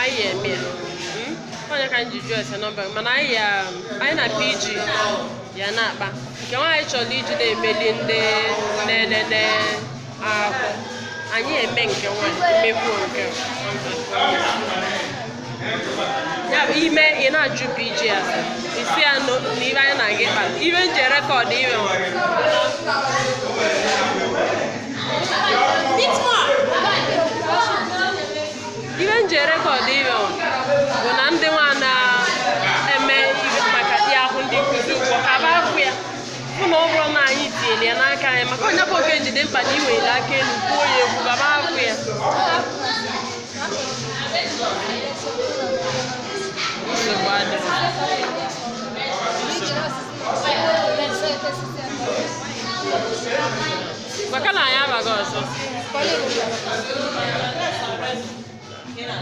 anyị eme ya hmm? onye ka ji jụọ ese nọmba mana anyị ya anyị na PG ya na-akpa nke nwaanyị chọrọ iji na-emeli ndị na-elele ahụ anyị eme nke nwaanyị mekwuo nke ya bụ ime ị na-ajụ PG ya ị sị ya na ibe anyị na-aga ịkpa ibe m ji erekọdụ ibe ibe m ji erekọdụ ibe ọ bụ na ndị nwa na-eme ibe maka dị ahụ ndị nkuzi ụgwọ ka ba akwụ ya bụ na ọ bụrụ na anyị tinyere ya n'aka anyị maka onye bụ oge jide mkpa na iwere aka elu kwuo ya ego ka ba akwụ ya nsogbu adịghị Thank you. Maka na anyị abaghị ọzọ.